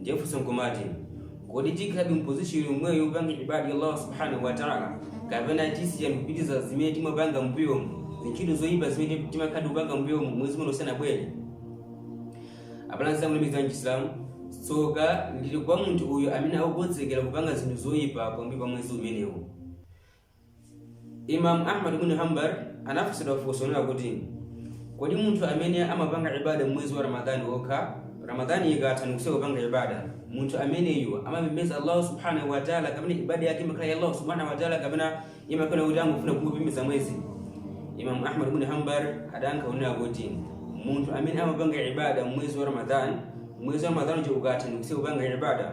ndiye funso nkumati kodi tikhalabe mpozishoni yomweyo yopanga ibada ya allah subhanahu wa taala kapena tiziyamba kupitiriza zimene timapanga mbuyomu zintchito zoyipa zimene timakhala tikupanga mbuyomu mwezi uno usanabwere abale anzanga olemekezeka mchisilamu tsoka lili kwa munthu uyu amene akukonzekera kupanga zinthu zoyipa pambuyo pa mwezi umenewu Imam Ahmad ibn Hanbal anafunsidwa funso lina kuti kodi munthu amene amapanga ibada mwezi wa Ramadhani wokha Ramadhani ikatha ndikusiya kupanga ibada munthu ameneyu amapembedza Allah subhanahu wa ta'ala kapena ibada yake imakhala ya Allah subhanahu wa ta'ala kapena imakhala kuti angofuna kungopembedza mwezi Imam Ahmad ibn Hanbal adayankha kunena kuti munthu amene amapanga ibada mwezi wa Ramadhani mwezi wa Ramadhani ukatha ndikusiya kupanga ibada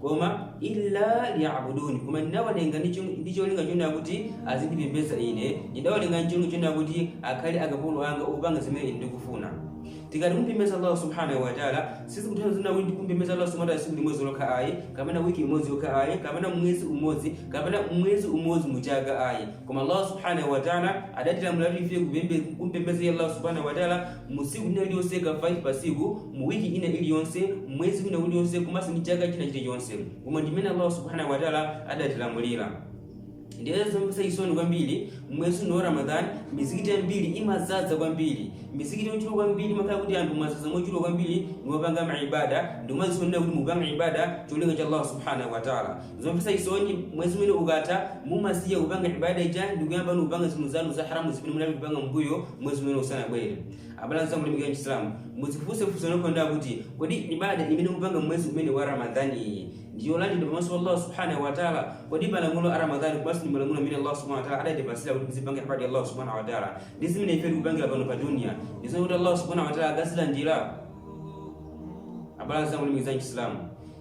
koma illa liyabuduni koma ndinawalenga ndi chom- ndi cholinga chonena kuti azindipembedza ine ndidawalenga ndi cholinga chonena kuti akhale akapolo anga opanga zimene ine ndikufuna tikati kumpembedza allah subhanahu wataala sizikutanthauza kunena kuti kumpembedza allah subhanahu wataala tsiku limodzi lokha ayi kapena wiki imodzi yokha ayi kapena mwezi umodzi kapena mwezi umodzi muchaka ayi koma allah subhanahu wataala adatilamula kuti ife kupembe- kumpembedza iye allah subhanahu wataala mu tsiku lina lililonse ka 5 pa tsiku mu wiki ina iliyonse mwezi wina uliyonse komanso ndi chaka china chilichonse umo ndimene allah subhanahu wataala adatilamulira ndiye zomvetsa chisoni kwambiri mwezi uno wa ramadan mizikiti yambiri imadzadza kwambiri mizikiti yochuluka kwambiri mumakhala kuti anthu mwadzadza mochuluka kwambiri niwapanga maibada ndikumadzionetsera kuti mupanga ibada cholinga cha allah subhanahu wataala zomvetsa chisoni mwezi umene ukatha mumasiya kupanga ibada ija ndikuyamba ni kupanga zinthu zanu za haramu zimene munali kupanga mbuyo mwezi umene usanabwere abale anzanga olemekezeka mchisilamu mudzifunse funso lonena kuti kodi ibada imene mupanga mwezi umene wa ramadhani iyi ndi yolandiridwa pamaso pa allah subhanahu wataala kodi malamulo a ramadhani komanso ndi malamulo amene allah subhanahu wataala adatipatsira kuti tizipanga ibada ya allah subhanahu wataala ndi zimene ife tikupangira pano pa dunia ndi zimene kuti allah subhanahu wataala akazilandira abale anzanga olemekezeka mchisilamu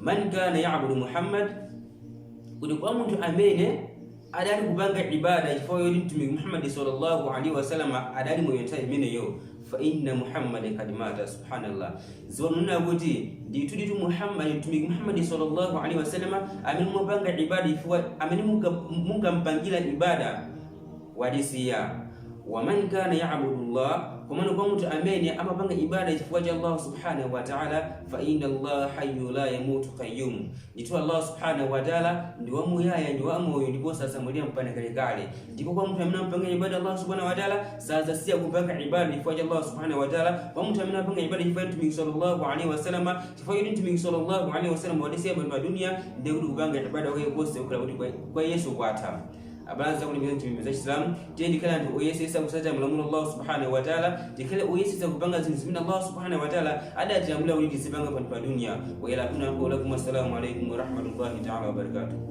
man kana yabudu muhammad kuti kwa munthu amene adali kupanga ibada chifukwa choti mtumiki muhammadi sallallahu alaihi wasallam adali moyo nthawi imeneyo fa inna muhammadi kad mata subhanallah ziwanena kuti ndithuditu muhammadi mtumiki muhammadi sallallahu alaihi wasallam amene mumapanga ibada chifukwa amene munga- mungampangira ibada wadisiya waman kana yabudu llah komano kwa munthu amene amapanga ibada chifukwa cha allah subhanahu wataala fa inna allah hayu la yamutu qayyum ndithu allah subhanahu wataala ndi wamuyaya ndi wamoyo ndipo sadzamwalira mpaka kalekale ndipo kwa munthu amene amapanga ibada allah subhanahu wataala sadzasiya kupanga ibada chifukwa cha allah subhanahu wataala kwa munthu amene amapanga ibada chifukwa cha mtumiki sallallahu alaihi wasalama chifukwa choti mtumiki sallallahu alaihi wasalama wadisiya pano pa duniya ndiye kuti kupanga ibada kwake konse kukhala kuti kwa- kwa yesu kwatha abale anzanga olemera mtima za chisilamu tiye tikhale anthu oyesetsa kutsatira malamulo a allah subhanahu wataala tikhale oyesetsa kupanga zinthu zimene allah subhanahu wataala adatilamulira kuti tizipanga pano pa duniya wa ilaikuna lakum assalamu alaikum warahmatullahi taala wabarakatuh